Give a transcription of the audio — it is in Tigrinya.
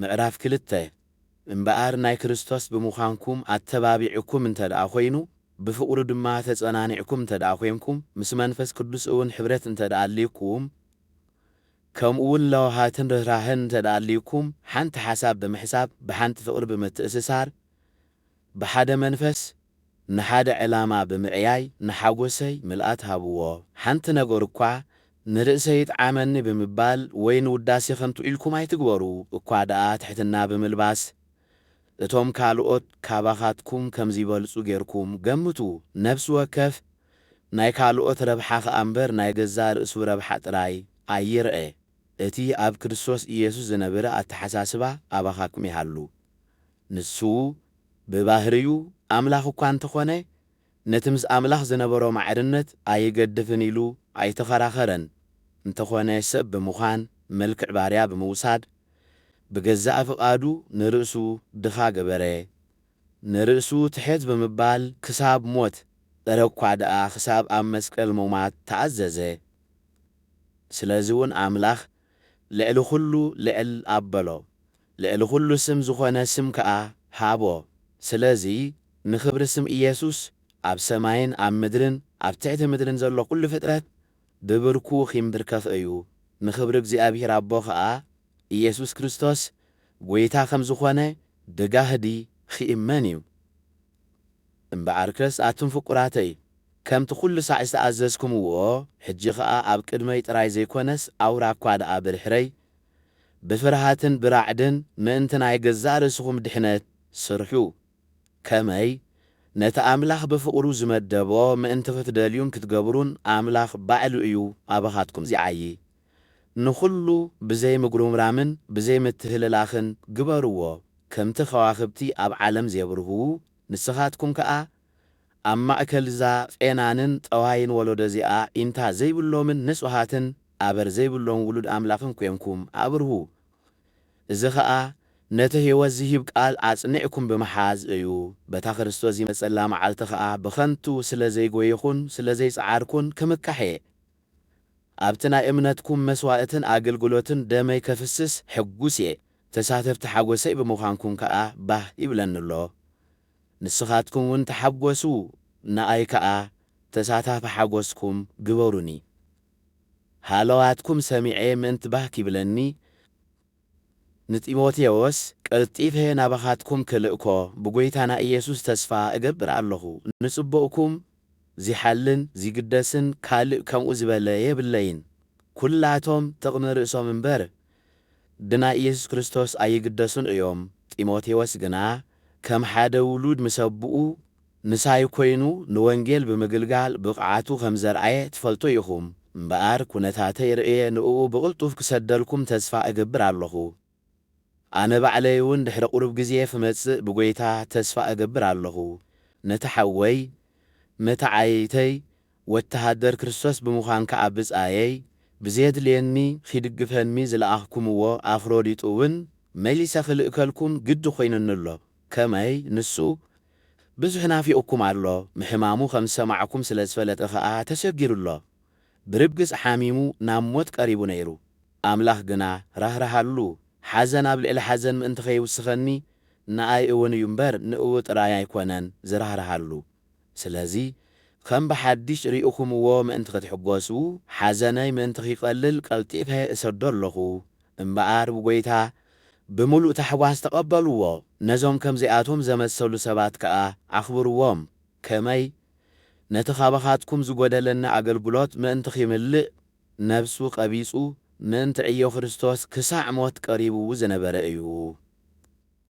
ምዕራፍ ክልተ፣ እምበኣር ናይ ክርስቶስ ብምዃንኩም ኣተባቢዑኩም እንተድኣ ዀይኑ፣ ብፍቕሩ ድማ ተጸናኒዕኩም እንተድኣ ዄንኩም፣ ምስ መንፈስ ቅዱስ እውን ኅብረት እንተድኣ ኣልዩኩም፣ ከምኡውን ለውሃትን ርኅራኄን እንተድኣ ኣልዩኩም፣ ሓንቲ ሓሳብ ብምሕሳብ፣ ብሓንቲ ፍቕሪ ብምትእስሳር፣ ብሓደ መንፈስ ንሓደ ዕላማ ብምዕያይ ንሓጎሰይ ምልኣት ሃብዎ። ሓንቲ ነገር እኳ ንርእሰይ ይጥዓመኒ ብምባል ወይ ንውዳሴ ከንቱ ኢልኩም ኣይትግበሩ፣ እኳ ደኣ ትሕትና ብምልባስ እቶም ካልኦት ካባኻትኩም ከም ዚበልጹ ጌርኩም ገምቱ። ነፍሲ ወከፍ ናይ ካልኦት ረብሓ ኸኣ እምበር ናይ ገዛእ ርእሱ ረብሓ ጥራይ ኣይርኣ። እቲ ኣብ ክርስቶስ ኢየሱስ ዝነብረ ኣተሓሳስባ ኣባኻትኩም ይሃሉ። ንሱ ብባህርዩ ኣምላኽ እኳ እንተ ዀነ፣ ነቲ ምስ ኣምላኽ ዝነበሮ ማዕርነት ኣይገድፍን ኢሉ ኣይተኸራኸረን። እንተዀነ ሰብ ብምዃን መልክዕ ባርያ ብምውሳድ፣ ብገዛእ ፍቓዱ ንርእሱ ድኻ ገበረ። ንርእሱ ትሕት ብምባል ክሳብ ሞት፣ እረ እኳ ደኣ ክሳብ ኣብ መስቀል ምሟት ተኣዘዘ። ስለዚውን ኣምላኽ ልዕሊ ዅሉ ልዕል ኣበሎ፣ ልዕሊ ዅሉ ስም ዝዀነ ስም ከኣ ሃቦ፣ ስለዚ፣ ንኽብሪ ስም ኢየሱስ፣ ኣብ ሰማይን ኣብ ምድርን ኣብ ትሕቲ ምድርን ዘሎ ዅሉ ፍጥረት ብብርኩ ኺምብርከኽ እዩ፣ ንኽብሪ እግዚኣብሄር ኣቦ ኸኣ ኢየሱስ ክርስቶስ ጐይታ ኸም ዝዀነ ብጋህዲ ኺእመን እዩ። እምበኣርከስ ኣቱም ፍቁራተይ ከምቲ ኩሉ ሳዕ ዝተኣዘዝኩምዎ ሕጂ ከኣ ኣብ ቅድመይ ጥራይ ዘይኮነስ ኣውራ እኳ ደኣ ብድሕረይ ብፍርሃትን ብራዕድን ምእንቲ ናይ ገዛእ ርእስኹም ድሕነት ስርሑ። ከመይ ነቲ ኣምላኽ ብፍቕሩ ዝመደቦ ምእንቲ ክትደልዩን ክትገብሩን ኣምላኽ ባዕሉ እዩ ኣባኻትኩም ዚዓዪ። ንኹሉ ብዘይ ምጉርምራምን ብዘይ ምትህልላኽን ግበርዎ፣ ከምቲ ከዋኽብቲ ኣብ ዓለም ዜብርህዉ፣ ንስኻትኩም ከኣ ኣብ ማእከል'ዛ ጼናንን ጠዋይን ወለዶ'ዚኣ ኢንታ ዘይብሎምን ንጹሃትን ኣበር ዘይብሎም ውሉድ ኣምላኽን ኴንኩም ኣብርሁ። እዚ ኸኣ ነቲ ህይወት ዚህብ ቃል ኣጽኒዕኩም ብምሓዝ እዩ፣ በታ ክርስቶስ ዚመጸላ መዓልቲ ኸኣ ብኸንቱ ስለ ዘይጐየኹን ስለ ዘይጸዓርኩን ክምካሕ እየ፣ ኣብቲ ናይ እምነትኩም መስዋእትን ኣግልግሎትን ደመይ ከፍስስ ሕጉስ እየ፣ ተሳተፍቲ ሓጎሰይ ብምዃንኩም ከኣ ባህ ይብለኒ ኣሎ። ንስኻትኩም እውን ተሓጎሱ ንኣይ ከኣ ተሳታፊ ሓጎስኩም ግበሩኒ። ሃለዋትኩም ሰሚዐ ምእንቲ ባህ ኪብለኒ ንጢሞቴዎስ ቀልጢፈ ናባኻትኩም ክልእኮ ብጐይታና ኢየሱስ ተስፋ እገብር ኣሎኹ። ንጽቡቕኩም ዚሓልን ዚግደስን ካልእ ከምኡ ዝበለ የብለይን። ኵላቶም ጥቕሚ ርእሶም እምበር፣ ብናይ ኢየሱስ ክርስቶስ ኣይግደሱን እዮም። ጢሞቴዎስ ግና ከም ሓደ ውሉድ ምስ ኣቦኡ ምሳይ ኮይኑ ንወንጌል ብምግልጋል ብቕዓቱ ከም ዘርኣየ ትፈልጡ ኢኹም እምበኣር፣ ኵነታተይ ርእየ ንእኡ ብቕልጡፍ ክሰደልኩም ተስፋ እገብር ኣለኹ። ኣነ ባዕለይውን ድሕሪ ቝሩብ ግዜ ኽመጽእ ብጐይታ ተስፋ እገብር ኣለኹ። ነቲ ሓወይ፣ መተዓይይተይ፣ ወተሃደር ክርስቶስ ብምዃን ከኣ ብጻየይ ብዜድልየኒ ኺድግፈንሚ ዝለኣኽኩምዎ ኣፍሮዲጡውን መሊሰ ኽልእከልኩም ግዲ ዀይኑኒ ኣሎ፣ ከመይ፣ ንሱ ብዙሕ ናፊቑኩም ኣሎ፣ ምሕማሙ ኸም ዝሰማዕኩም ስለ ዝፈለጠ ኸኣ ተሸጊሩ ኣሎ፣ ብርግጽ ሓሚሙ ናብ ሞት ቀሪቡ ነይሩ፣ ኣምላኽ ግና ራህረሃሉ፣ ሓዘን ኣብ ልዕሊ ሓዘን ምእንቲ ኸይውስኸኒ፣ ንኣይ እውን እዩ እምበር፣ ንእኡ ጥራይ ኣይኰነን ዝራህርሃሉ። ስለዚ ከም ብሓዲሽ ሪእኹምዎ ምእንቲ ክትሕጎሱ ሓዘነይ ምእንቲ ኺቀልል ቀልጢፈ እሰዶ ኣሎኹ። እምበኣር ብጐይታ ብምሉእ ታሕጓስ ተቀበልዎ፣ ነዞም ከምዚኣቶም ዘመሰሉ ሰባት ከኣ ኣኽብርዎም። ከመይ? ነቲ ኻባኻትኩም ዝጐደለኒ ኣገልግሎት ምእንቲ ኺምልእ ነፍሱ ቀቢጹ ምእንቲ ዕዮ ክርስቶስ ክሳዕ ሞት ቀሪቡ ዝነበረ እዩ።